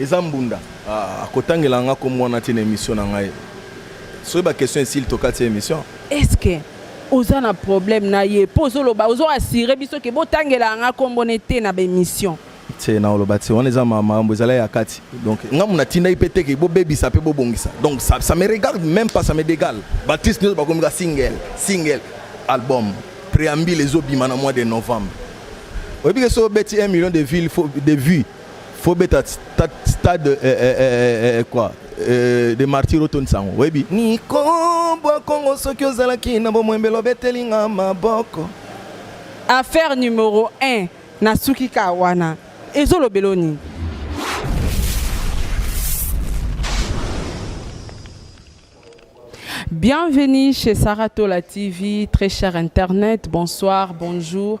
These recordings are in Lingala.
Eza mbunda. Ah akotangela nga kombo wana te na emission na ngai. Soki ba question esili tokati emission. Est ce que oza na problème na ye po ozo loba ozo assurer biso ke botangela nga kombo ne te na ba emission. Tse na oloba tse wana eza makambo ezala ya kati. Donc nga muna tindaki pe te ke bobebisa pe bobongisa. Donc ça ça me regarde même pas ça me degale. Ba artistes nioso bakomi ka single single album preambule ezo bima na mois de novembre. Oyebi ke soki obeti 1 million de ville faut de vues faut beta stade eh, eh, eh, eh, quoi eh, de martyr otondisa yango oyebi niko bwa kongo soki ozalaki na bomwembelo obeteli nga maboko affaire numero 1 nasuki ka wana ezolobelo nini Bienvenue chez Saratola TV, très cher Internet. Bonsoir, bonjour.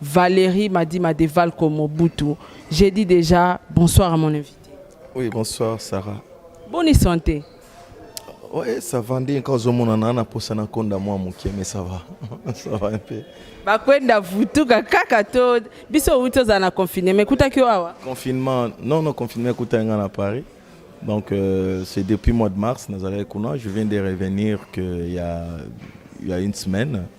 Valerie Madima de Valco Mobutu. J'ai dit déjà bonsoir à mon invité. Oui, bonsoir Sarah. Bonne santé. Oui, ça va. Ndi quand zo mona na na posa na konda moi mukie mais ça va. ça va un peu. Ba kwenda vutuka kaka to biso uto za na confinement mais kuta kyo awa. Confinement, non non confinement kuta nga na Paris. Donc euh, c'est depuis mois de mars nazalaki kuna, je viens de revenir que il y a il y a une semaine.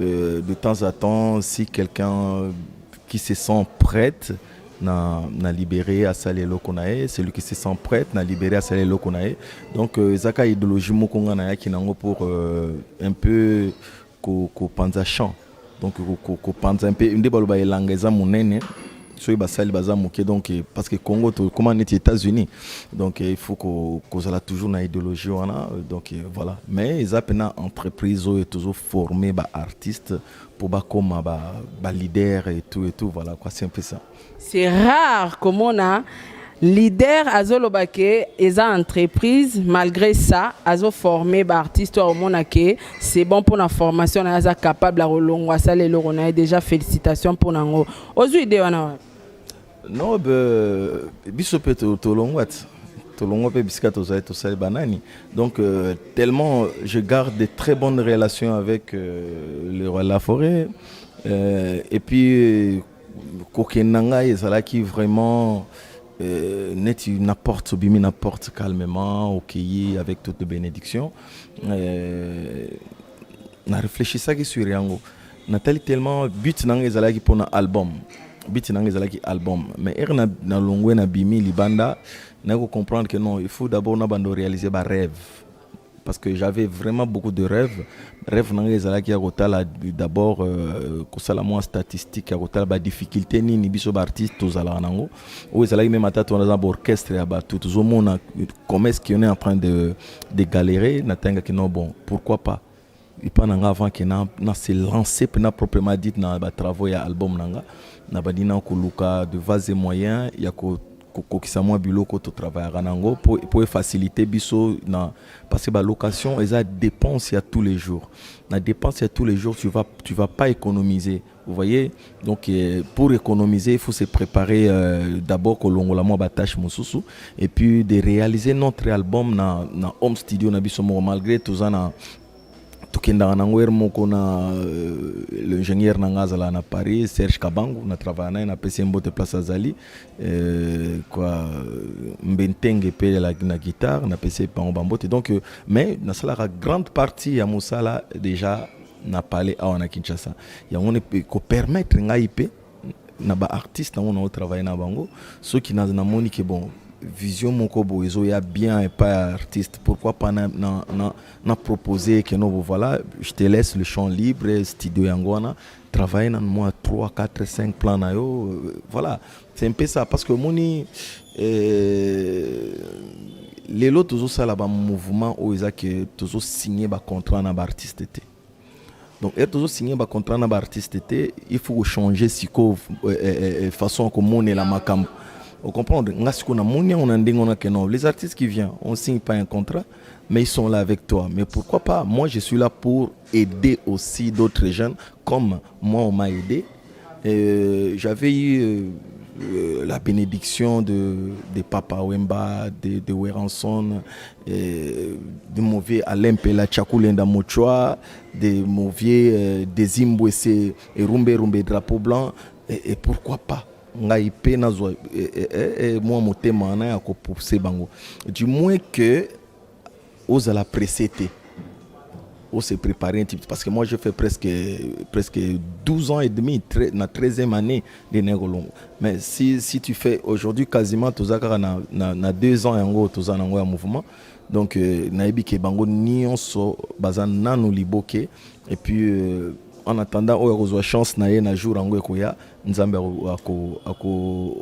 Euh, de temps à temps, si quelqu'un qui se sent prête, na, na libéré à saler lokonae celui qui se sent prête na libéré à saler lokonae donc euh, ezaka idéologie moko nga na yaki nango pour euh, un peu ko ko panza champ donc ko ko panza un peu nde baloba elanga eza monene soki basali baza moke donc eh, parce que congo tokoma neti états-unis donc eh, il faut kozala toujours na idéologie wana donc eh, voilà mais eza mpena entreprise oyo tozo forme baartiste mpo bakoma baleader ba et tout et tout voilà quoi c'est un peu ça c'est rare komona leader azoloba ke eza entreprise malgré ça azoforme baartiste oyo omona ke c'est bon mpona formation na ye aza capable ya kolongwa asala eloko na ye déjà félicitation mpo na yango ozwi idee wana wapi no be, biso mpe tolongwa ti tolongwa mpe bisika tozali tosali banani donc euh, tellement je garde de très bonnes relations avec euh, le roi de la forêt euh, et puis kokende na ngai ezalaki vraiment euh, neti na porte obimi na porte calmement okeyi okay, avec toute bénédiction euh, na réfléchissaki sur yango Natali tellement but na nga ezalaki mpo na album biti na nga ezalaki album mais ere na, na longwe na bimi libanda naye kocomprendre que non il faut d'abord na bando réaliser ba rêve parce que j'avais vraiment beaucoup de rêves rêve na nga ezalaki ya kotala d'abord euh, kosala mwa statistique ya kotala badifficulté nini biso baartiste tozalaka nango oyo ezalaki meme ata tona za baorchestre ya bato tozomona comment est ce qu'on est en train de, de galérer natangaki non bon pourquoi pas epa na nga avant ke na, na se lance mpe na proprement dit na batravaux ya album na nga nabandi na koluka de vase moyen ya ko kokokisa mwa biloko totravaillaka na yango mpo efacilite biso na parce que balocation eza dépense ya tous les jours na dépense ya tous les jours tu vas, tu vas pas économiser Vous voyez, donc euh, pour économiser, il faut se préparer euh, d'abord kolongola mwa ba tâche mosusu et puis de réaliser notre album na, na home studio na biso moko malgré toza na tokendaka nango heure moko na euh, l'ingénieur na ngai azalaka na paris serge kabangu na travailla na ye napesi ye mbote place azali euh, kwa mbentenge mpe ya la- na guitare napesi ye bango bambote donc euh, mais nasalaka grande partie ya mosala déjà na pale awa na Kinshasa yango ko permettre ngai pe na ba artistes nango nao travailler na bango soki namoni ke bon vision moko boye ezoya bien epai ya artiste pourquoi pas na, na, na, na proposer que nobo voilà je te laisse le champ libre studio yango wana travailler na mwa 3 4 5 plan na yo euh, voilà C'est un peu ça, parce que moni, euh, lelo tozo sala ba mouvement oyo eza ke tozo signe ba contrat na ba artiste te donc ere tozo signe ba contrat na ba artiste te il faut kochanger sikoyo euh, euh, euh, façon ya komonela makambo ocomprendre nga sikoyo namoni yango na ndenge wana ke non les artistes qui vient on signe pas un contrat mais ils sont là avec toi mais pourquoi pas moi je suis là pour aider aussi d'autres jeunes comme moi on m'a aidé. Euh, J'avais eu euh, euh la bénédiction de, de Papa Wemba, de, de Weranson, euh, de mauvais Alain Pela Chakulenda Mochoa, de mauvais euh, Dezimbwe et Rumbe Rumbe Drapeau Blanc, et, et pourquoi pas ngai mpe nazwa eh, eh, eh, mwa motema wana ya kopuse bango du moins que Ozala presse te. On se prépare un petit peu parce que moi je fais presque presque 12 ans et demi très, na 13e année de Nengolongo. Mais si si tu fais aujourd'hui quasiment toza kaka na na, na 2 ans yango toza nango ya mouvement. Donc euh, nayebi ke bango nionso baza nanu liboke et puis euh, en attendant oyo akozwa chance na ye na jour yango ekoya nzambe ako, ako, ako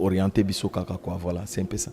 orienter biso kaka quoi voilà c'est un peu ça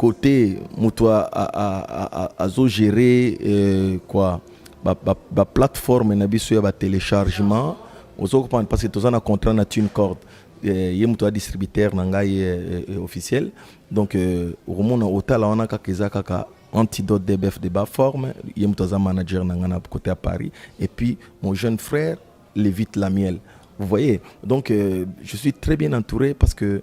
cote moto azo gere euh, quoi baplateforme ba, ba na biso ya batelechargement ozo comprendre parce que toza na contrat na tune corde euh, ye moto ya distributeur na ngai euh, officiel donc okomona otala wana kaka eza kaka antidote dbf de ba forme ye moto aza manager na ngai na cote ya paris et puis mon jeune frère levite lamiel vous voyez donc je suis très bien entouré parce que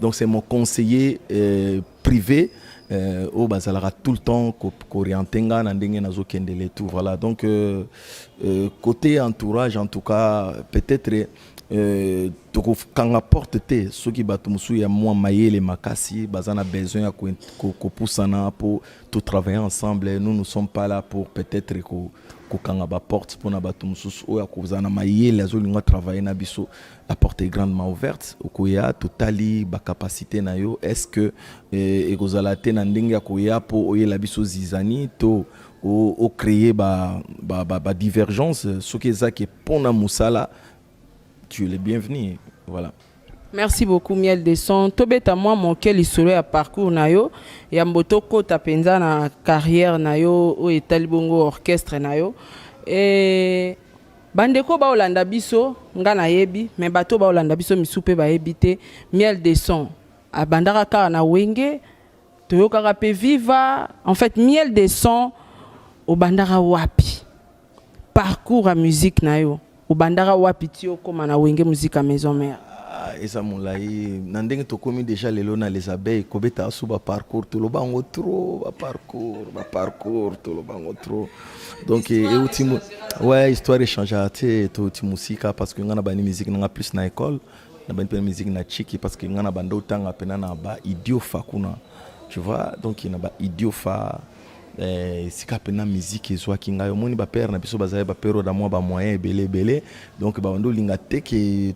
Donc c'est mon conseiller euh, privé euh, oyo bazalaka tout le temps koriente ko nga na ndenge nazokende le tout voilà donc euh, euh, côté entourage en tout cas peut-être euh, tokokanga porte te soki bato mosusu ya mwa mayele makasi baza na besoin ya kopusana ko, ko mpo totravaille ensemble nous nous sommes pas là pour peut-être kokanga ko baporte mpo na bato mosusu oyo akozala na mayele azolinga travaille na biso la porte est grandement ouverte okoya totali bacapacité na yo est ce que eh, ekozala te na ndenge ya koya mpo oyela biso zizani to ocreye badivergence ba, ba, ba soki ezaki mpo na mosala tu es le bienvenu voilà merci beaucoup miel de son tobeta mwa moke lisolo ya parcours na yo yambo tokota mpenza na carrière na yo oyo etali bongo orchestre na yo e... Bandeko baolanda biso nga nayebi me bato baolanda biso misu mpe bayebi te miel de son abandaka kaka na wenge toyokaka mpe viva en fait miel de son obandaka wapi parcours ya musique na yo obandaka wapi ti okóma na wenge musique ya maison mère ah, eza molai na ndenge tokomi déjà lelo na les abeilles kobeta asu baparcours toloba yango trop baparcours baparcours toloba yango trop donc euti ouais histoire echangea te touti mosika parce que ngai na bandi musique nanga plus na école na bandi mpena musique na chiki parce que ngai na banda otanga mpena na ba idiofa kuna tu vois donc na ba idiofa eh, esika mpena musique ezwaki ngai omoni bapere na biso bazali bapere oyo na mwa bamoyen ebele ebele donc babandi olinga te ke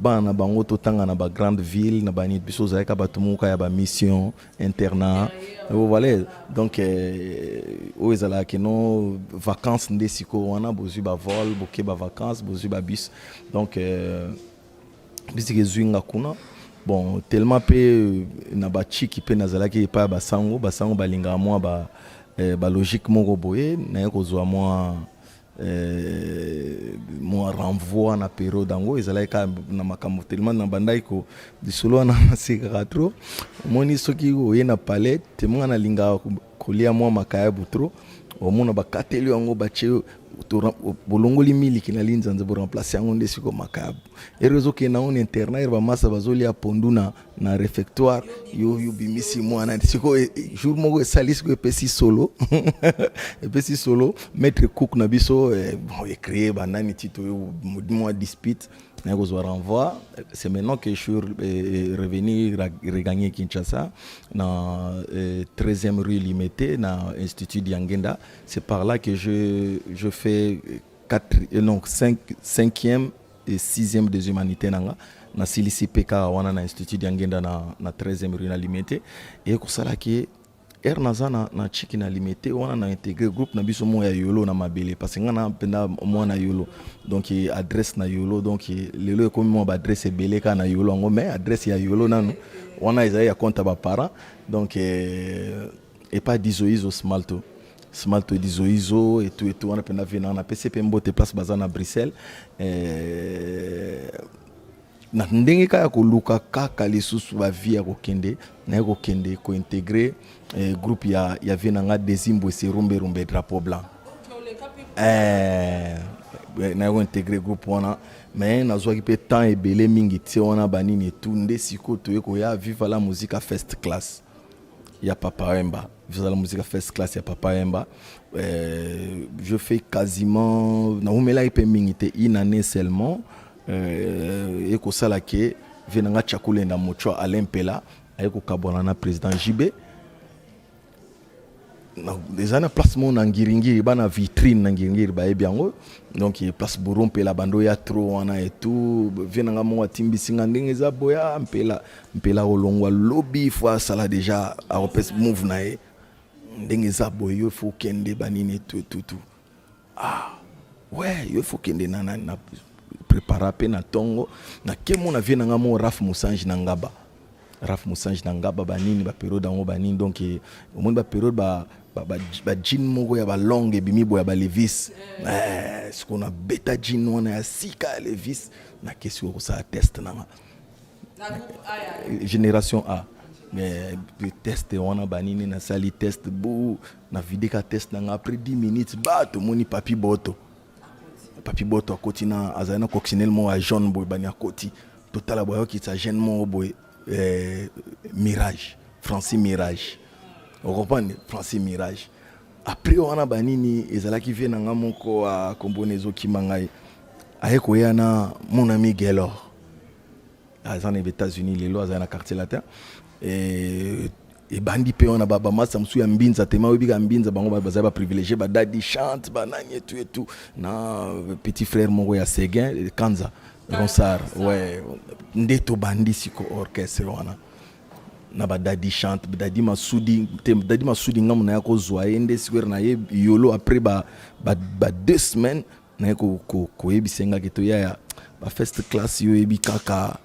bana na bango totanga na bagrande ville na bani biso ozalaka bato moka ya bamission internat vous voyez donc euh, oyo ezalaka kino vacances nde sikoyo wana bozwi bavol boke bavacances bozwi babus donc euh, bisika ezwi nga kuna bon tellement mpe euh, na bachiki mpe nazalaki epai ya basango basango balingaka mwa ba, eh, balogique moko boye naye kozwa mwa Euh, mwa renvoi na periode yango ezalaki kaka na makambo telema na bandaki ko lisolo wana nasekaka trop omoni soki oye na palais temanga nalingaka kolia mwa makayabu trop omona bakateli yango batie bolongoli miliki na linzanza boremplace yango nde siko makayabu ero ezokende yango na internet ero bamasa bazolia pondu na na refectoire yo yo bimisi mwana siko e, e, jour moko esali siko epesi solo epesi solo maître cook na biso eh, bon ecree banani ti toyo mwa dispute naye kozwa renvoi c'est maintenant que je suis eh, revenu regagner kinshasa na 13e eh, rue limete na institut diangenda c'est par là que je, je fais 4, non, 5, 5e e sixième des humanités na nga nasilisi mpe kaka wana na institut ya ngenda na, na 13e rue na limete eye kosala ke ere naza na, na chiki na limete wana na integre groupe na biso moko ya yolo na mabele parce nga na mpenda mwana yolo donc e, adresse na yolo donc e, lelo ekomi mwa baadresse ebele kaka na yolo yango mais adresse ya yolo nanu wana ezali ya compte ya baparent donc e, epa dizoizo smalto smalto dizoizo etu etu wana mpe na vie na napesi mpe mbote place baza na bruxelles eh, na ndenge kaka ya koluka kaka lisusu bavie ya kokende naye kokende kointegre eh, groupe ya, ya vie na nga desimbwese rumbe rumbe drapeau blanc eh, eh naye kointegre groupe wana me nazwaki mpe temps ebele mingi tie wana banini etu nde sikoyo toye koya viva la musica fest classe ya Papa Wemba. Vizala Musica First Class ya Papa Wemba. Euh, je fais quasiment na umela ipe mingi te une année seulement euh, ekosala ke vie na nga chakulenda mochwa Alain Pela aye kokabwana na président JB eza na place moko na ngiringiri bana vitrine na ngiringiri bayebi yango donc place bouro mpela banda oya tro wana etout vie na nga moko atimbisi nga ndenge eza boya mpela mpela kolongwa lobi fo asala deja akopesa move na ye ndenge eza boye yo fo okende banini etuetutu Ah, ouais, yo faut kende na na, na prepara pe na tongo na kemo na vie na nga mo Raf Musanji na ngaba. Raf Musanji na ngaba ba nini ba periode yango ba nini donc eh, omoni ba periode ba ba, ba, ba jean moko ya ba longue ebimi boya ba levis eh, siko na beta jean wana ya sika ya levis na kesi kosala test na nga génération A mais test wana banini nasali test bu Na vide ka test nanga après 10 minutes ba to moni papi boto. Papi boto akoti na azali na coccinelle mo ya jaune boye bani akoti. Totala boye okitisa jeune mo boye eh, mirage Francis mirage. Okompane Francis mirage. Après wana banini ezalaki vie nanga moko akombona ezokima ngai. Aye koya na mon ami Gaylor. aza na Etats-Unis lelo aza na quartier latin et ebandi mpe wana bamasta mosusu ya mbinza tema oyebika mbinza bango bazali baprivilégie badadi chante banani etu etu na petit frère moko ya seguin kanza ronsar ouais. nde tobandi siko orchestre wana na badadi chante dadi masudi te dadi masudi ngambo na ye akozwa ye nde sikoyo na ye yolo après ba, ba, ba deux semaines naye koyebisa nga ke toyaya ba first class yo oyebi kaka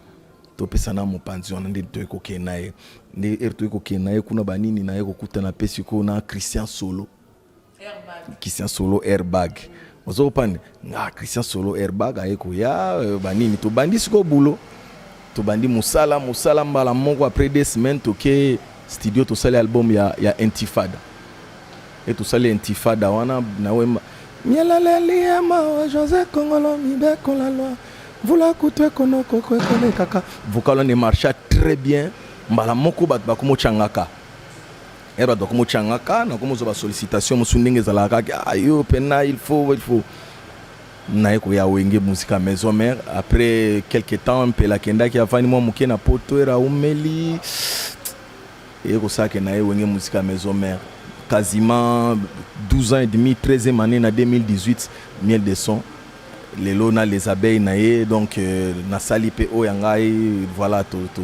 topesana mopanzi wana nde toye kokende na ye nde ere toye kokende na ye kuna banini na ye kokutana mpe sikoyo na christian solo christian solo airbag ozo kopande nga christian solo airbag aye koya euh, banini tobandi sikoyo bulo Tobandi musala musala mbala moko après deux semaines toke studio tosali album ya ya Intifada. Et tosali Intifada wana na wemba. Mielaleli ya mawa Jose Kongolo mibeko la loi. Mvula kutu ekonoko kwekole kaka. Vocal wana marcha très bien mbala moko bato bakomo changaka. Ero bato bakomo changaka na komo zo ba sollicitation musu ndenge ezalaka kaka ayo ah, pena il faut il faut Naye koya wenge musika maison mère après quelque temps mpela akendaki avandi mwa moke na poto era aumeli eye kosala ke naye wenge musika maison mère quasiment 12 ans et demi 13e année na 2018 miel de son lelo na les abeilles na ye donc euh, nasali mpe oyo ya ngai voilà to, to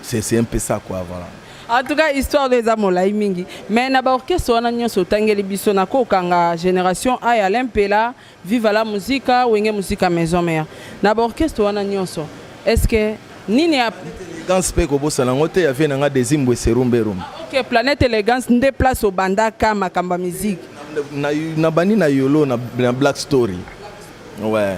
c'est c'est un peu ça quoi voilà en tout cas histoire oyo eza molai mingi mais na baorchestre wana nyonso otangeli biso na kokanga génération a ya lempela viva la musica wenge musica maison mère na baorchestre wana nyonso est ce que nini ya élégance mpe kobosana yango te ya vie na nga desimbwe serumberum ah, ok planète élégance nde place obandaka makambo ya musique nabandi na yolo na black story ouais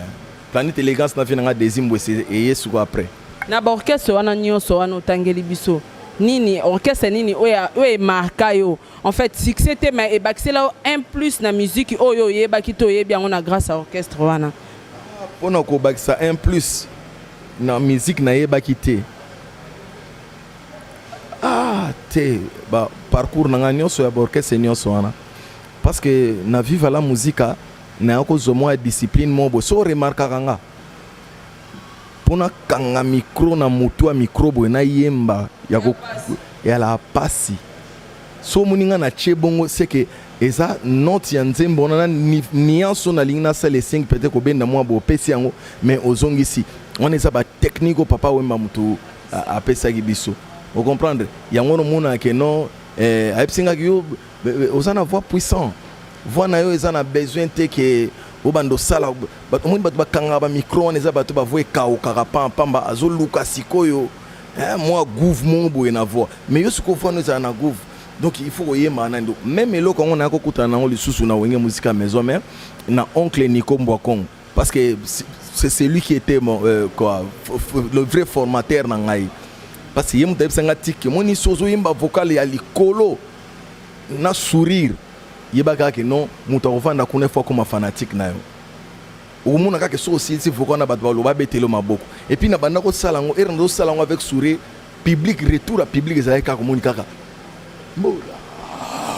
Planète elegance na vie na nga Desi Mbwese eye suko après. Na ba orchestre wana nionso wana otangeli biso nini orchestre nini oyo oyo emarka yo en fait succès te mais ebakisela yo un plus na musique oyo oyebaki to oyebi yango na grâce à orchestre wana mpo na kobakisa un plus na musique nayebaki te ah te ba parcours na ngai nyonso ya baorchestre nyonso wana parce que na viva la musica Mais ako zwa mwa discipline moko boye. Soki o remarkaka nga, mpo na kanga micro na motu ya micro boye na yemba ya ko ya la pasi. Soki omoni nga na tie bongo c'est que eza note ya nzembo wana na ni- nuance oyo nalingi nasala esengi peut-être kobenda mwa boye opesi yango mais ozongisi. Wana eza ba technique oyo Papa Wemba motu a- apesaki biso. O comprendre? Yango wana omonaka que non eh, ayebisi nga que yo Oza na voix puissant. Voix na yo eza na besoin te ke obanda osala omoni bato bakangaka bamikro wana eza bato bavoi ekaukaka pampamba azoluka sikoyo eh, mwa gouve moko boye na voi mais yo sikoyo voi no ezala na gouve donc il faut koyemba na ndo meme eloko yango naya kokutana nango lisusu na wenge musika maison mais na oncle nico mbwa congo parce que c'est celui qui était mon, euh, quoi, le vrai formateur na ngai parce que ye moto ayebisa ngai tiki omoni so ozoyemba vocal ya likolo na sourire yeba kaka ke non moto akovanda kuna ifo akoma fanatique na yo okomona kaka soki osilisi voka wana bato baloba abetele maboko epuis na banda kosala yango ere nazosala yango avec sourire public retour ya public ezalaki kaka komoni kaka mbola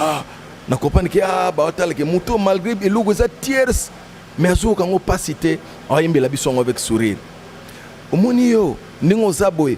ah, na comprendre ke a ah, baotala ke moto malgré eloko eza tiers mais azoyoka yango mpasi te ayembela biso yango avec sourire omoni yo ndenge oza boye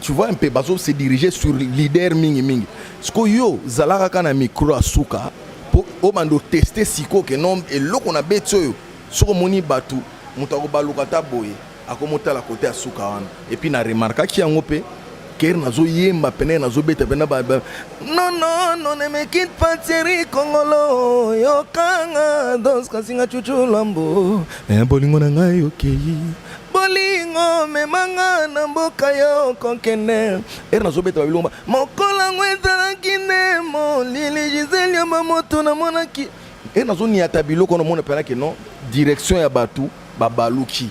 tu vois un peu bazo se diriger sur leader mingi mingi siko yo zalaka kaka na micro ya suka mpo obanda oteste siko ke non eloko na beti oyo soki omoni bato moto akobaluka ata boye akomotala kote ya suka wana epuis na remarkaki yango mpe kere nazoyemba pene nazobeta pene nonono nemekit pateri kongolo yokanga doskasinga cucu lambo eh, bolingo na ngai okei okay. bolingo mema nga na mboka yo kokende ere nazobeta babilomba mokolo yango ezalaki nde molili gisele ya bamoto namonaki e nazoniata biloko namona mpenaki non direction ya bato babaluki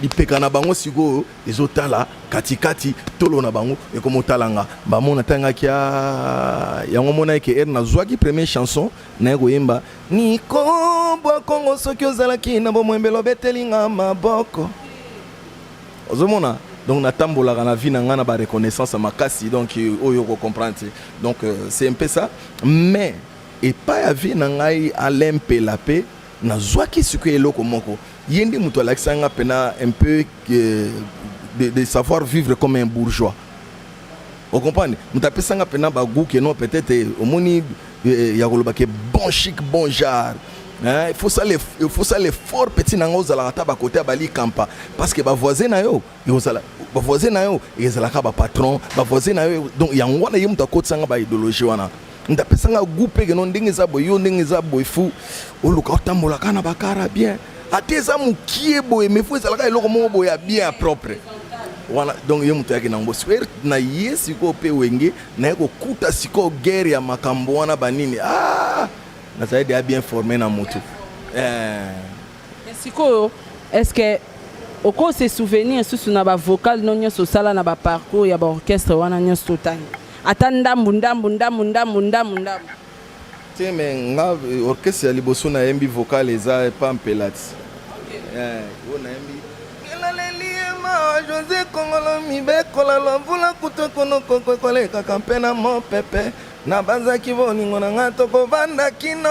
lipeka na bango sikoyo ezotala katikati tolo na bango ekomotala nga bamona ntangaki ah, yango monaki ke ere nazwaki premier chanson Naye koyemba Nico bwa Congo soki ozalaki na bomoembele obeteli nga maboko ozomona donc natambolaka na vie na nga na ba reconnaissance ya makasi donc oyo ko comprendre te donc euh, c'est un peu ça mais epai ya vie na ngai Alain Mpela mpe nazwaki sikoyo eloko moko ye nde moto alakisaki nga mpena un peu euh, de, de savoir vivre comme un bourgeois O comprendre? Moto apesa nga pena ba gout que non peut-être eh, omoni eh, ya koloba ke bon chic bon genre Hein, il faut ça les il faut ça les fort petit nanga ozala ata ba côté bali kampa parce que ba voisin na yo ozala ba voisin na yo ezalaka ba patron ba voisin na yo donc yango wana ye moto akotisa nga ba idéologie wana nda pesa nga goût pe keno ndenge eza boye yo ndenge eza boye fu oluka otambola kana bakara bien ata eza mokie boye mais fu ezalaka eloko moko boye ya bien ya propre wana donc ye moto yaki nango sikoyo er, na ye sikoyo mpe wenge naye kokuta sikoyo guerre ya makambo wana banini ah! nazali deya bien forme na motu eh. sikoyo est ce que okose souvenir susu na bavocale no nyonso osala na baparcours ya baorchestre wana nyonso totangi Ata ndambu ndambu ndambu ndambu ndambu ndambu. Te mais nga orchestre ya liboso na yembi vocal eza pa mpelati eh, oyo nayembi elaleliema josé kongolo mibekola lwa mvula kutu ekonokoko ekolekaka mpe na mopepe nabanzaki bolingo na ngai tokovanda kino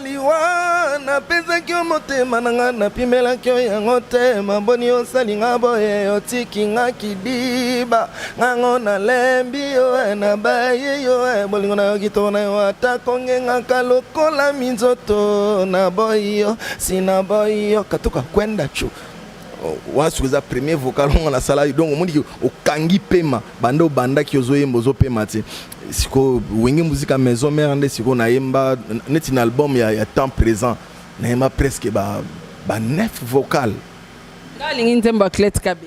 liwa napesaki yo motema na ngai napimelaki yo yango te maboni osali ngai boye otiki ngai kidiba Ngango na lembi yo eh, na baye yo eh, bolingo na yo kitoko na yo ata kongengaka lokola minzoto na boyi yo si na boyi yo katuka kwenda chu oh, wana soki eza premier vocal ongo nasalaki donc omoniki okangi pema banda obandaki ozoyemba ozopema te sikoyo wenge muzika maison mare nde sikoyo nayemba neti na album ya, ya temps présent nayemba presque ba, ba neuf vocal nga alingi nzembo ya clete kabe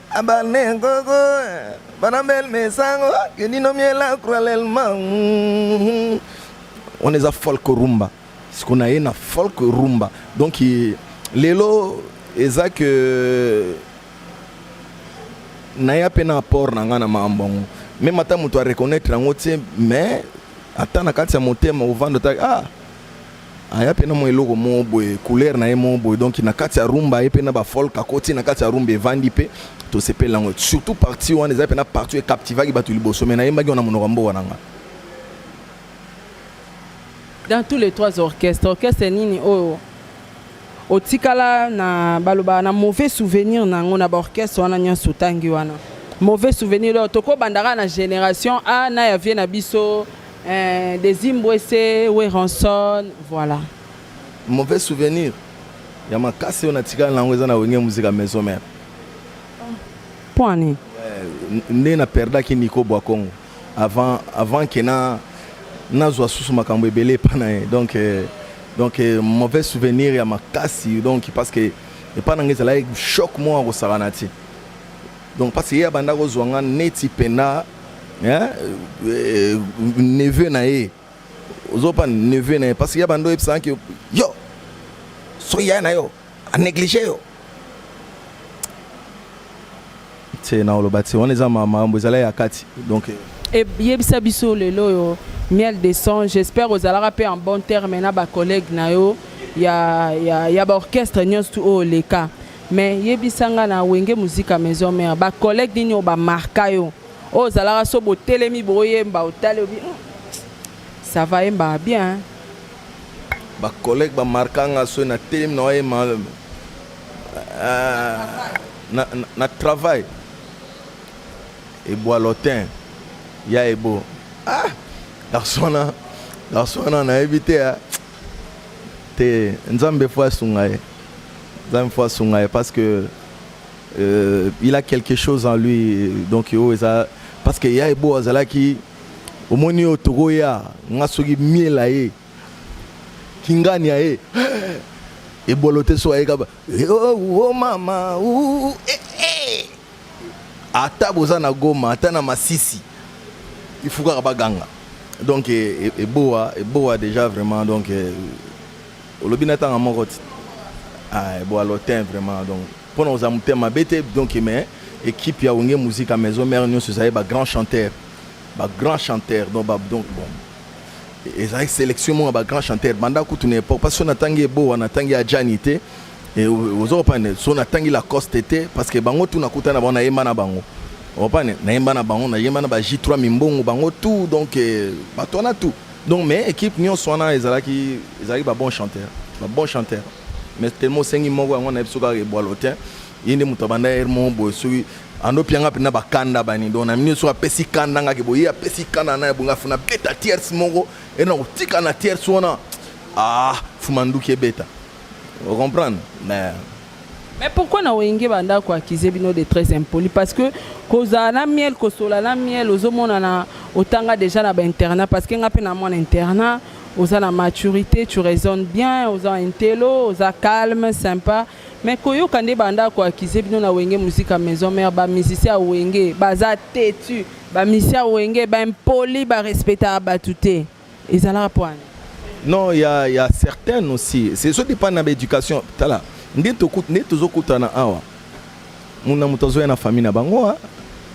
abane nkoko bana bel mesango kendino miela kralelma wana eza folk rumba siko na ye na folk rumba donc lelo eza ke naya mpe na apport na ngai na makambo yango meme ata moto areconnaitre yango te mais ata na kati ya motema ovanda ata ah Aya pe na mwa eloko moko boye, couleur na ye moko boye, donc na kati ya rumba ye pe na ba folk akoti na kati ya rumba evandi pe tosepeli na yango surtout partie wana eza pena partie oyo e captivaki batu liboso mais nayembaki yango na monoko ya mboka na nga. Dans tous les trois orchestres, orchestre nini oyo otikala na baloba na mauvais souvenir na yango na ba orchestre wana nyonso otangi wana? Mauvais souvenir leo tokobanda kaka na generation A na ya vie na biso Eh, Desimbwese, Werenson, voilà. Mauvais souvenir ya makasi oyo natikala na yango eza na wenge muzika maison mère. Point nini? Eh, nde na perdaki Nico Bwakongo avant avant que na nazwa susu makambo ebele epa na ye donc eh, donc eh, mauvais souvenir ya makasi donc parce que epa na ngai ezalaki choc moko akosakana ti donc parce que ye abanda kozwa nga neti penda hein euh, neveu na ye ozopa neveu na ye parce que ya bando oyebisaka ke yo soki yaya na yo anéglige yo te na oloba te wana eza makambo ezala ya kati donc euh, eyebisa biso lelo oyo miel de sang j'espère ozalaka mpe en bon terme na bacollègue na yo ya, ya, ya baorchestre nyonso tu oyo oleka Mais yebisa nga na Wenge Musica Maison Mère ba collègues nini oyo ba marka yo oyo ozalaka so botelemi boyemba otali obi hmm, ça va yemba bien hein? ba collègues ba marka nga so na telemi na oyema euh, na, na, na travail eboa lotin ya ebo ah garçon wana garçon wana nayebi te hein? Te nzambe faut asunga ye nzambe faut asunga ye parce que euh, il a quelque chose en lui donc oyo oh, eza parce que ya ebo azalaki omoni oyo tokoya nga soki miela ye kingani ya ye ebolo te so ayekaba eh, oh, oh, oh, mama uh, uh, uh, eh, eh. Ata boza na goma ata na masisi il faut kaka ba ganga donc eboa eboa dejà vraiment donc olobi na tanga moko ti ah eboa lotin vraiment donc pona oza mutema bete donc mais équipe ya wenge musique à maison mère nionso ezali ba grand chanteur ba grand chanteur donc ba donc bon ezalaki sélection moko ya ba grand chanteur banda kutu na époque parce que natangi eboa natangi ya jani te Et ozo comprendre so na tangi la coste te parce que bango tout na kuta na bango na yemba na bango opane na yemba na bango na yemba na ba J3 mimbongo bango tout donc eh, bato wana tout donc mais équipe nyonso wana ezalaki ezalaki ba bon chanteur ba bon chanteur mais tellement osengi moko yango nayebi soki kaka ebwalo te ye nde moto abanda ere moko boye soki andopi yanga mpenza bakanda bani donc na mini soki apesi kanda ngaki boye ye apesi kanda na ye bonga funa beta tierce moko ere na kotika na tierce wana ah fuma nduki ebeta Vous comprenez? Mais Mais pourquoi na wenge banda ko accuser bino de très impoli parce que kozala na miel kosola na miel ozomona na otanga déjà na ba internat parce que nga pe na mwana internat oza na maturité tu raisonnes bien oza intello oza calme sympa mais koyoka nde banda ko accuser bino na wenge musique à maison mère ba musicien ya wenge baza têtu ba musicien ya wenge ba impoli ba respecta bato te Ezalaka poani. Non, il y a, y a certaines aussi. C'est ce dépend de l'éducation. Tala, nde tokut nde tozokutana awa. Muna moto azoya na famille na bango, hein.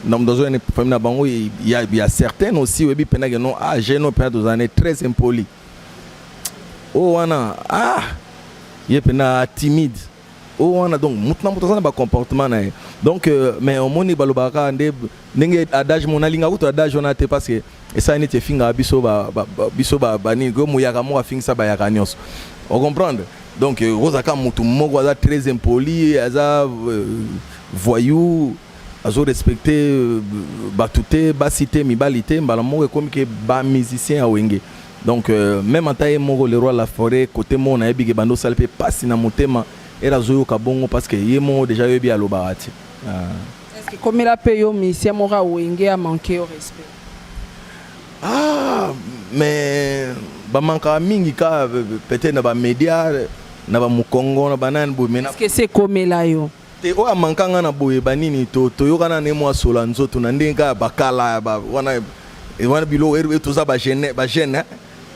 na moto azoya na famille na bango, il y a, il y a certaines aussi oyebi pena que non, ah, j'ai non pena tozana très impoli. Oh wana, ah, ye pena timide. oyo wana donc moto na moto aza na bacomportement na ye donc euh, mais omoni balobaka kaka nde ndenge adage mo nalingaka kutu adage wana te parce que esala neti efingaka biso biso banini ko moyaka moko afingisa bayaka nyonso ocomprendre donc euh, oza kaka motu moko aza très impoli aza euh, voyou azo respecte bato te basi te mibali te mbala moko ekomi ke bamusicien ya wenge Donc euh, meme ata ye moko le roi la forêt kote moko nayebi ke bando osali mpe pasi na motema ere azoyoka bongo parce que ye moko deja yoyebi alobaka ti ah. komela mpe yo musicien moko awenge amanke yo respect ah, mais bamankaka mingi ka peut-être na bamédia na bamokongo na banani boye mena ekomela yo te oyo amanka nga na boye banini to toyokana ne mwa sola nzoto na ndenge kaka bakala ya ba wana e wana biloko e toza ba jeune ba jeune hein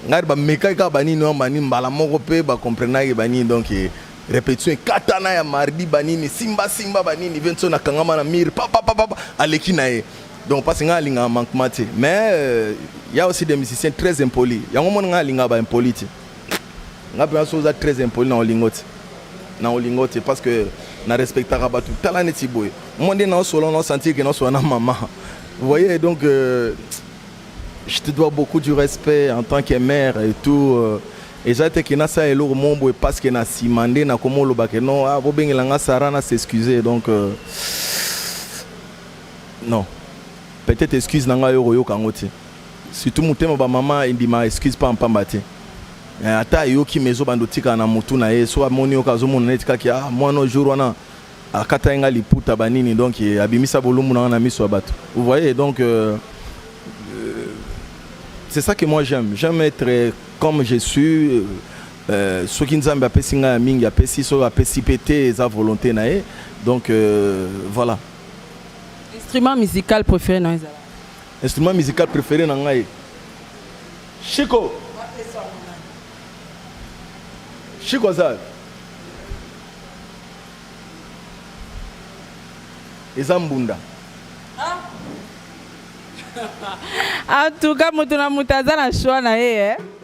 ngai ba meka kaka banini wana bani mbala moko pe ba comprenaki banini donc e, repetition ekatana ya mardi banini simba simba banini Vincent akangama na mire papa papa aleki na ye donc parce ngai alingaka manquement te mais euh, ya aussi des musiciens très impolis yango mona ngai alingaka ba impolis te Nga penza soki oza très impoli nako lingo te nako lingo te parce que na respectaka batu tala neti boye moi nde nao solo nao sentir que nao solo na mama vous voyez donc euh, je te dois beaucoup du respect en tant que mère et tout euh, eza te ke nasala eloko moko boye parce que na nsima nde nakomi oloba ke non ah, bobengela nga sara na s'excuse donc euh, non peut-être excuse na ngai okoyoka yango te Surtout motema ba maman endima excuse pamba pamba te. Eh, ata ayoki mais ezobanda otikala na motu na ye soki amoni yoka azomona neti kaki a ah, mwana jour wana akatai ngai liputa banini donc eh, abimisa bolumbu na ngai na miso ya bato vous voyez donc euh, euh, c'est ça que moi j'aime j'aime être euh, comme je suis euh, euh, soki nzambe apesi ngai ya mingi apesi soki apesi mpe te eza volonté na ye donc euh, voilà instrument musical préféré na ezala Instrument musical prefere na ngai Chico. Chico aza eza mbunda en tout cas moto na moto aza na choix na ye eh?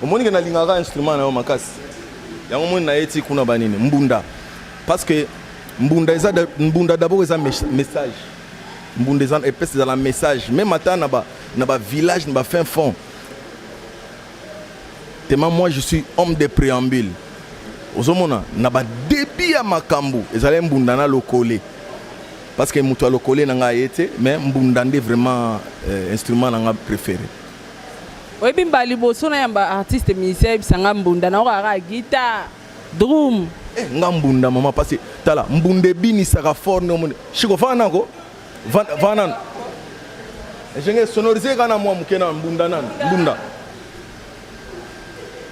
Omoni ke nalingaka instrument na yo makasi. Yango omoni na ye ti kuna ba nini? Mbunda. Parce que mbunda eza mbunda d'abord eza message. Mbunda eza epesi ezala message. Même ata na ba na ba village na ba fin fond. Tellement moi je suis homme de préambule. Ozomona na ba début ya makambo ezali mbunda na lokole. Parce que moto ya lokole na ngai ye te mais mbunda nde vraiment euh, instrument na ngai préféré. oyebi mbala liboso nayamba artiste musicien ayebisa nga mbunda nayoka kaka guitar drum eh, nga mbunda mama pasi tala mbunda ebinisaka fort nde omoni shiko faa nako vaa nano ejenge sonorise kaka na mwa moke na mbunda nano mbunda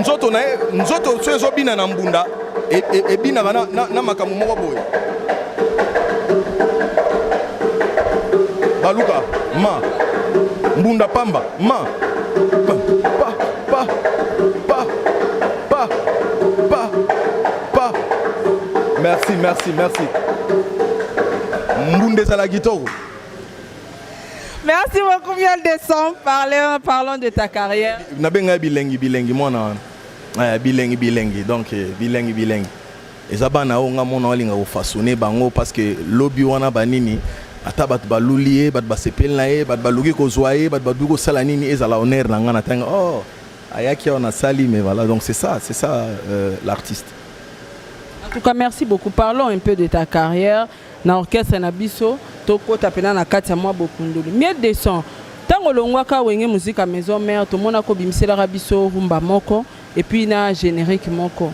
nzoto na ye nzoto so ezobina na mbunda e, e, ebinaka na, na, na makambo moko boye baluka ma mbunda pamba ma pa pa pa pa Pa. Merci, merci, merci. Mbunde ezala kitoko. Merci beaucoup Miel de Sang. Parlons, parlons de ta carrière. Nabenga bilengi bilengi mwana wana. Eh, bilengi bilengi donc eh, bilengi bilengi. Eza bana oyo nga mona walinga kofasone bango parce que lobi wana banini ata bato baluli ye bato basepeli na ye bato baluki kozwa ye bato baluki kosala nini ezala honneur na ngai na ntango oh Ayaki awa na sali mais voilà donc c'est ça c'est ça euh, l'artiste. En tout cas merci beaucoup parlons un peu de ta carrière na orchestre na biso tokota pena na kati ya mwa bokundoli mieux descend ntango olongwaka wenge musique à maison mère tomonaka obimiselaka biso rumba moko et puis na générique moko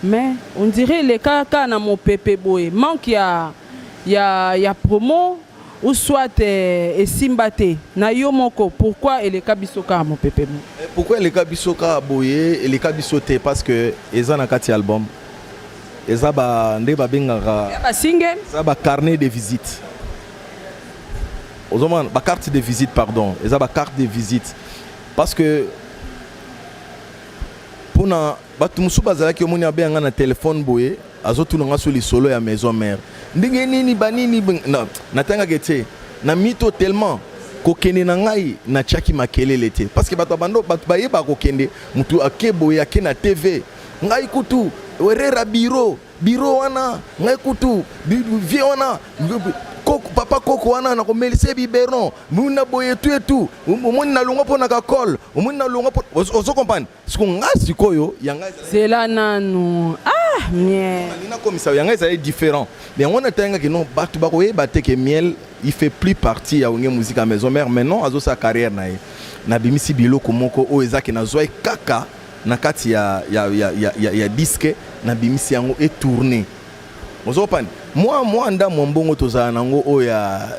mais on dirait elekaka na mopepe boye manque ya ya, ya promo ou soit eh, esimba te na yo moko pourquoi eleka biso kaka mopepe mo eh, pourquoi eleka biso kaka boye eleka biso te parce que eza na kati ya album eza ba nde babengaka ba single eza ba carnet de visite ozomona ba carte de visite pardon eza ba carte de visite parce que mpona bato mosusu bazalaki omoni abeya ngai na telefone boye Azo tuna nga sous lisolo ya maison mère. Ndenge nini ba nini na natangaka ete na mito tellement kokende na ngai na chaki makelele te parce que bato bando bato bayeba kokende mutu ake boye ake na TV ngai kutu werera biro biro wana ngai kutu vie wana koko, papa koko wana na komelise biberon muna boye tu etu omoni nalongwa mpo na kakole omoni nalongwa mpo ozo comprendre siko nga sikoyo yanga zela nanu ah miel nakomisa yanga ezali différent mais yango wana etayangaki non bato bakoyeba te ke miel il fait plus partie ya onge musique ya maison mère maintenant azosala carrière na ye nabimisi biloko moko oyo ezaki nazwaki kaka na kati ya, ya, ya, ya, ya, ya diske nabimisi yango etourne ozopani mwa mwa ndamwa mbongo tozala nango oyo ya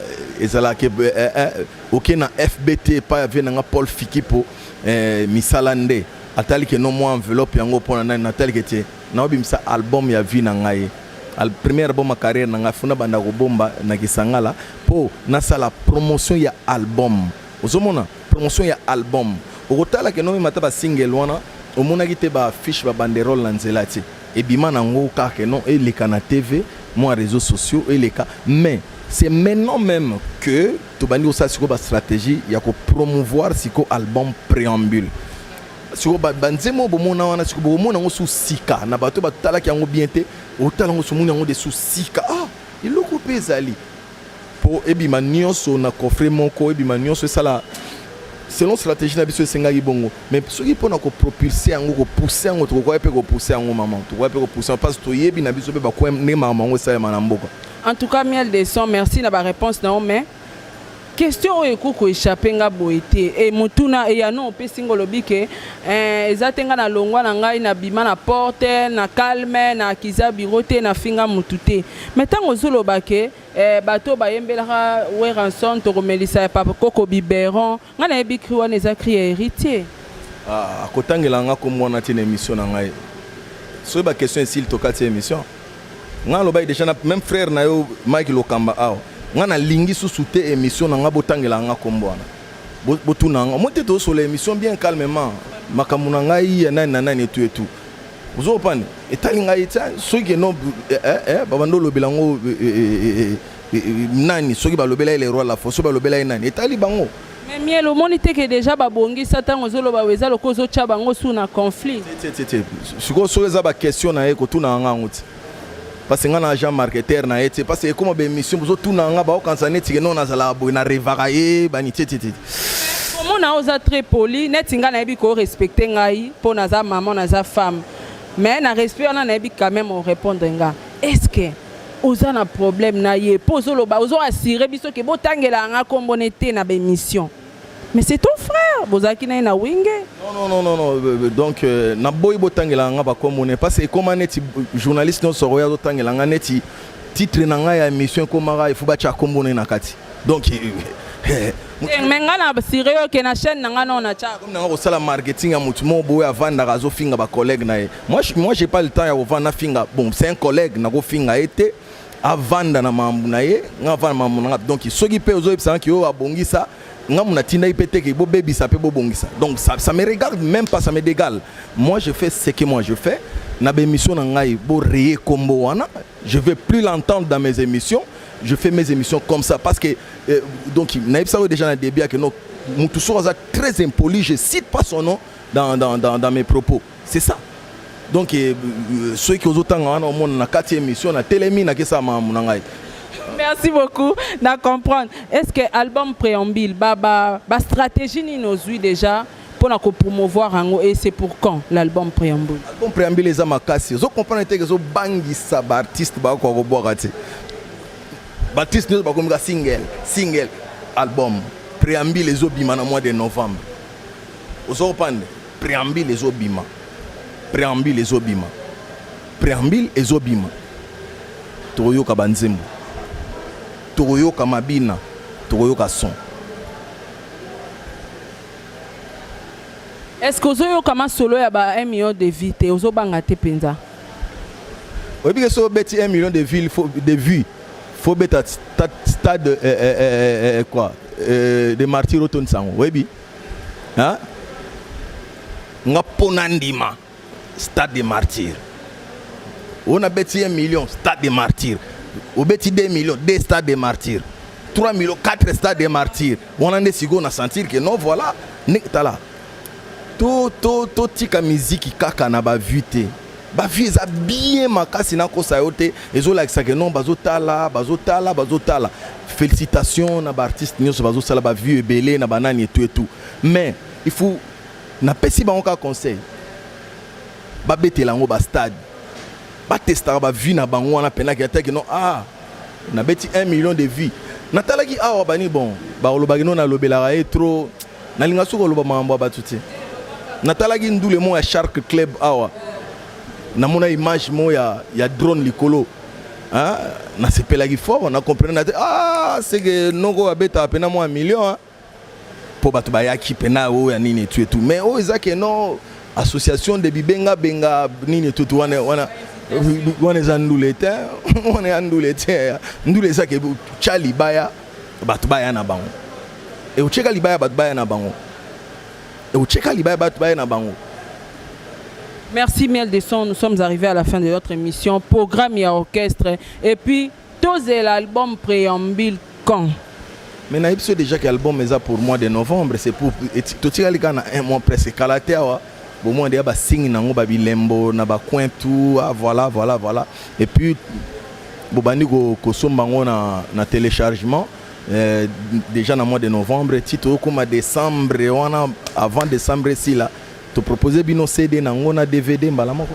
ezalaka eh, eh, eh, oke na fbt epai avie na nga paul fikipo eh, misala nde atali ke no mwa enveloppe yango mpo na nani natali ke te naobimisa album ya vie na ngai al première album ya carrière na ngai funa banda kobomba na kisangala mpo nasala promotion ya album ozomona promotion ya album okotala ke nomemata basingle wana omonaki te baaffiche babanderole na nzela te ebima nango kaka non eleka na tv mwa réseaux sociaux eleka mais c'est maintenant même que Tobandi kosala sikoyo ba strategie ya ko promouvoir sikoyo album Preambule. Sikoyo ba, ba nzembo oyo bomona wana sikoyo bokomona yango su sika na bato batalaki yango bien te, otala yango somoni yango de su sika. Ah, eloko mpe ezali mpo ebima nyonso na coffret moko, ebima nyonso esala selon strategie na biso esengaki bongo. mais soki mpona ko propulse yango ko pousser yango tokokoya mpe ko pousser yango maman tokoya mpe ko pousser parce que toyebi na biso mpe bakoya ndenge makambo yango esalema na mboka en tout cas miel de son merci na ba réponse na yo mais question oyo ekoki koechappe nga boye te e motuna eyano opesi nga olobi ke eh, eza te nga na longwa na ngai na bima na porte na calme na akiza biro te na finga motu te mai ntango ozoloba ke eh, bato bayembelaka weranson tokomelisa ya papa koko biberon Nga na yebi cri wana eza cri ya heritier. Ah, akotangela nga kombo wana te na emission na ngai. Soki ba question esili tokati emission. Nga nalobaki deja na même frère na yo Mike Lokamba awa. Nga nalingi susu te emission na nga botangela nga kombo wana. Bo- Botuna nga. Moi te tozosola emission bien calmement. Makambo na ngai ya nani na nani etu etu. Ozo opani? Etali ngai te. Soki ke non eh eh eh babanda olobela ngo eh, eh, eh, eh, eh. nani soki balobela ye le roi la fo soki balobela ye nani etali bango mais miel omoni te ke déjà babongisa ntango ozoloba eza lokola ozotya bango su na conflit sikoyo soki eza baquestion na ye kotunaka nga yango ti parce nga na agent marketeur na ye ti parce ekoma baémission bozotunaka nga baokanisa neti ke no nazalaka boye na revaka ye bani tietietiti omona oza très poli neti nga nayebi korespecte ngai mpo naza maman naza femme mais na respect wana nayebi quand même orépondre nga est ce que Oza na problème na ye po ozo loba ozo assurer biso ke bo tangela nga kombo ne te na ba emission. Mais c'est ton frère, bozalaki na ye na wenge. Non non non non non euh, euh, donc euh, na boyi bo tangela nga ba kombo ne parce que ekoma neti journaliste no soro ya zo tangela nga neti titre na nga ya émission ekomaka il faut ba tcha kombo ne na kati. donc eh, mais ngai na sire yo ke na chaîne na ngai nao na tiaka comme nanga kosala marketing ya motu moko boye avandaka azofinga bacollègue na ye moi moi j'ai pas le temps ya kovanda nafinga bon c'est un collègue nakofinga ye te avanda na mambo na ye ngai avanda mambo na ngai donc soki mpe ozoyebisanga ki oyo abongisa nga muna tindaki pe teke bobebisa pe bobongisa donc ça, ça me regarde même pas ça me dégale moi je fais ce que moi je fais na bémission na ngai bo reye kombo wana je vais plus l'entendre dans mes émissions je fais mes émissions comme ça parce que euh, donc nayebisa yo déjà na début yake non mutu soko aza très impoli je cite pas son nom dans, dans, dans, dans mes propos c'est ça donc euh, euh soki ozotanga wana omona na kati ya émission natelemi nakesala makambo na ngai merci beaucoup na comprendre est ce que album préambile ba, ba, ba stratégie nini ozwi déjà Pour na ko promouvoir yango et c'est pour quand l'album préambule album préambule eza makasi ozo comprendre te ezo bangisa ba artistes ba ko ko bwaka te ba artistes nyoso ba komika single single album préambule ezo bima na mois de novembre ozo comprendre préambule ezo bima préambule ezo bima préambule ezo bima tokoyoka ba nzembo tokoyoka mabina tokoyoka son Est ce que ozo yoka masolo ya ba 1 million de vie te ozo banga te penza. Oyebi ke so beti 1 million de ville faut de vue faut beta stade, stade euh, euh, euh, euh quoi euh, de martyr otonisa yango oyebi hein? nga mpo nandima stade de martyr oyo nabeti ye million stade de martyr obeti 2 million 2 stade de martyr 3 million 4 stade de martyr wana nde sikoyo na sentir ke non voilà tala totika to, to miziki kaka na bavue te bavue eza bien makasi nakosa yo te ezolakisa ke non bazotala bazotala bazotala félicitation na baartiste nyonso bazosala bavue ebele na banani etu etu mais il faut Na pesi bango kaka conseil ba betela yango ba stade ba testaka ba vie na bango wana pena ke teke no ah na beti 1 million de vie na talaki awa bani bon ba olobaki no na lobelaka ye trop na linga suko loba mambo ba tuti na talaki ndule mo ya shark club awa na mona image mo ya ya drone likolo hein na sepelaki fort na comprendre na te ah c'est que noko abeta pena mo 1 million hein po bato bayaki pena oyo ya nini etu etu mais oyo eza ke non association de bibenga benga nini etu etu wana wana wana eza ndule te wana ya ndule te ndule eza ke tya libaya bato baya na bango eotyeka libaya bato baya na bango eotyeka libaya bato baya na bango Merci Miel de Son, nous sommes arrivés à la fin de notre émission, programme et orchestre. Et puis, To zela album preambule quand? Mais nayebi so dejà que album eza pour mois de novembre c'est pour totikali kaka na un mois presque kala te awa bomoi deya basingi nango babilembo na bacoin tout ah, voilà voilà voilà et puis bobandi kosomba yango na, na téléchargement euh, déjà na mois de novembre ti toyokoma décembre wana avant décembre esila topropose bino cd nango na dvd mbala moko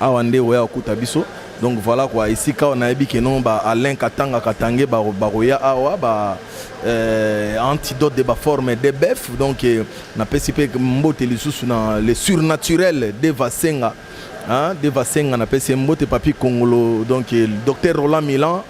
Awa nde oya okuta biso. Donc voilà quoi, esika awa nayebi que non ba Alain Katanga Katange ba bakoya awa ba euh, antidote de ba forme de bœuf. Donc eh, na pesi pe mbote lisusu na le surnaturel de Vasenga. Hein, de Vasenga na pesi mbote papi Kongolo. Donc eh, docteur Roland Milan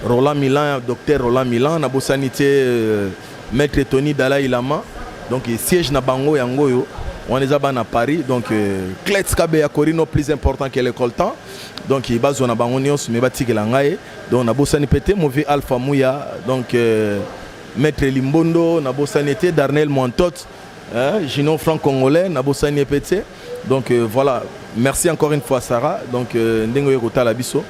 Roland Milan, docteur Roland Milan, na bosani te euh, maître Tony Dalai Lama. Donc siège na bango yango yo. On les a ban à Paris. Donc euh, Kletz Kabeya Corino plus important que l'école temps. Donc il bazo na bango nyos mais batiki la ngai. Donc na bosani pete mauvais Alpha Mouya. Donc euh, maître Limbondo, na bosani te Darnel Montot, hein, Gino Franc Congolais, na bosani pete. Donc euh, voilà, merci encore une fois Sarah. Donc euh, ndenge oye kotala biso.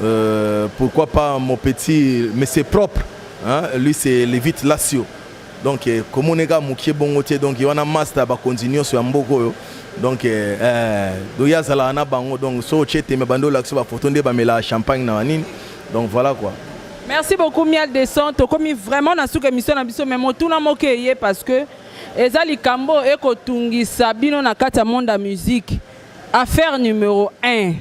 Euh, pourquoi pas mon petit mais c'est propre. Hein? Lui c'est Levite Lassio. Donc euh, comme on est gars mukie bongo tie donc il y a un master ba continuer sur mboko yo. Donc euh, euh do ya zala na bango donc so chete me bando la ba photo nde ba mela champagne na nini. Donc voilà quoi. Merci beaucoup Miel Descente. Comme vraiment na suka émission na biso mais motuna moke ye parce que Eza likambo eko tungisa bino na kati ya monde ya musique. Affaire numero 1.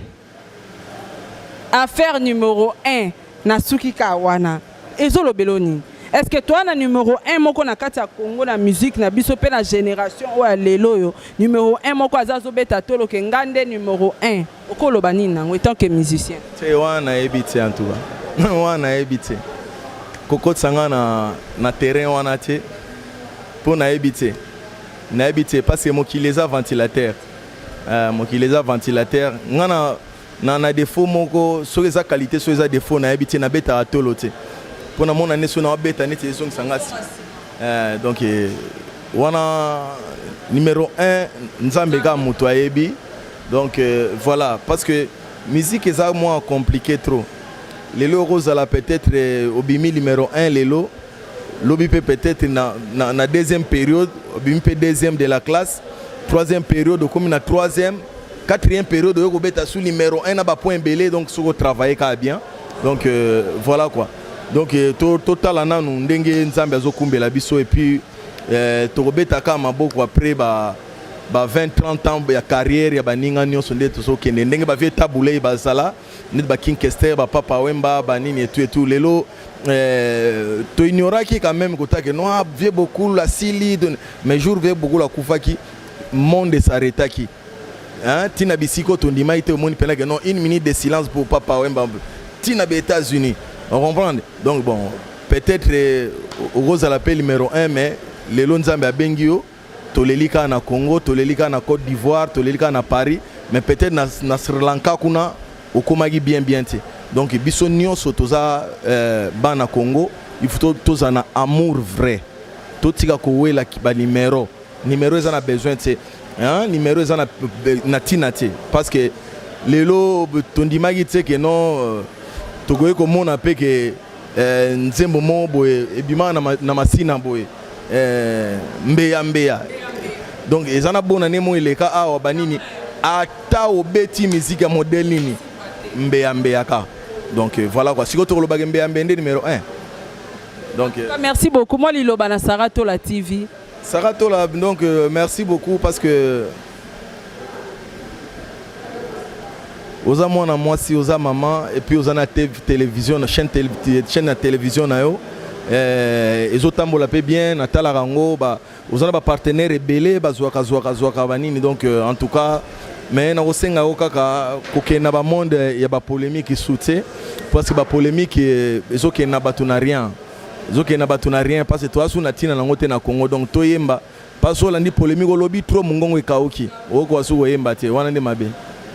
Affaire numero 1 na suki ka wana. Ezo lobelo nini? Est-ce que toi na numero 1 moko na kati ya Congo na musique na biso pe na generation oyo ya lelo yo numero 1 moko aza zo beta tolo ke ngande numero 1. Oko loba nini nango etant que musicien? Tse wana nayebi tse en tout cas. Wana nayebi tse. Kokotisa nga na na terrain wana tse. Po nayebi tse. Nayebi tse parce que mokili eza ventilateur. Euh, mokili eza ventilateur. Nga na na na défaut moko soki eza qualité soki eza défaut nayebi tse na beta atolo tse. Po na mona ne so na beta neti ezongisa nga. Euh, donc eh, Wana numero 1 Nzambe kaka moto ayebi. Donc euh, voilà parce que musique eza mwa compliqué trop. Lelo okozala peut-être euh, obimi numero 1 lelo lobi mpe peut-être na, na, na deuxième période obimi mpe deuxième de la classe troisième période okomi na troisième quatrième période oyo kobeta sous numéro 1 na bapoint ebele donc soki otravaille kaka bien donc euh, voilà quoi donc euh, totala to nanu ndenge nzambe azokumbela biso epuis eh, tokobeta kaka maboko après ba ba 20 30 ans ya carrière ya baninga nyonso nde tozokende ndenge bavie tabulei bazala neti baking kester bapapa wemba banini etu etu lelo eh, toignoraki quand même kotake noa vie bokulu asili mais jour vie bokulu akufaki monde esaretaki hein tina bisiko tondimaki te omoni pena que non une minute de silence pour papa wemba tina ba états unis on comprendre donc bon peut-être euh, okozala mpe numéro 1 mais lelo nzambe abengi yo toleli kaka na congo toleli kaka na côte d'ivoire toleli kaka na paris mais peut-être na, na sri lanka kuna okomaki bien bien te donc biso nyonso toza euh, bana congo il faut tozala na amour vrai totika kowela banimero Numero eza na besoin tse. Hein, numero eza na na tina tse parce que lelo tondimaki tse que non euh, tokoki komona pe que euh, nzembo moko boye ebimaka na, na masina boye euh, mbeya mbeya donc eza na bona ne mo eleka awa banini ata obeti miziki ya modele nini mbeya mbeya ka donc euh, voilà quoi sikoyo tokolobaka mbeya mbeya nde numero 1 donc euh, merci beaucoup moi liloba na sarah tola tv Sarah Tola, donc euh, merci beaucoup parce que oza mwana mwasi oza mama epuis oza na télévision na chaîne, tele, chaîne ya télévision na yo eh, ezotambola mpe bien natalaka yango oza na bapartenaire ebele bazwaka zwaka zwaka banini donc euh, en tout cas mais nakosenga yo kaka kokende na bamonde ya bapolémique soutien parce que bapolémique eh, ezokende na bato na rien zoke na bato na rien parce que toa su na ntina nango te na congo donc toyemba parce que olandi polémique olobi trop mongongo ekauki okoa su koyemba te wana nde mabe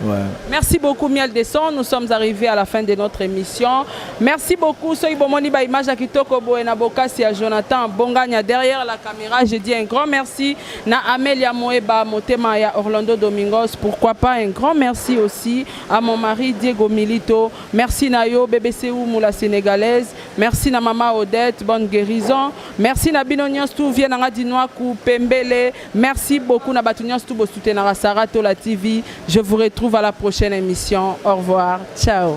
Ouais. Merci beaucoup Miel Desson. Nous sommes arrivés à la fin de notre émission. Merci beaucoup. Soy Bomoni ba image à Kitoko Boena Bokasi à Jonathan Bongania derrière la caméra. Je dis un grand merci na Amelia Moeba Motema ya Orlando Domingos. Pourquoi pas un grand merci aussi à mon mari Diego Milito. Merci Nayo BBC ou Moula Sénégalaise. Merci na maman Odette, bonne guérison. Merci na bino nyonso tout vie nanga Dinwaku Pembele. Merci beaucoup na batu nyonso tout bo soutenaka Sarah Tola TV. Je vous retrouve à la prochaine émission. Au revoir. Ciao.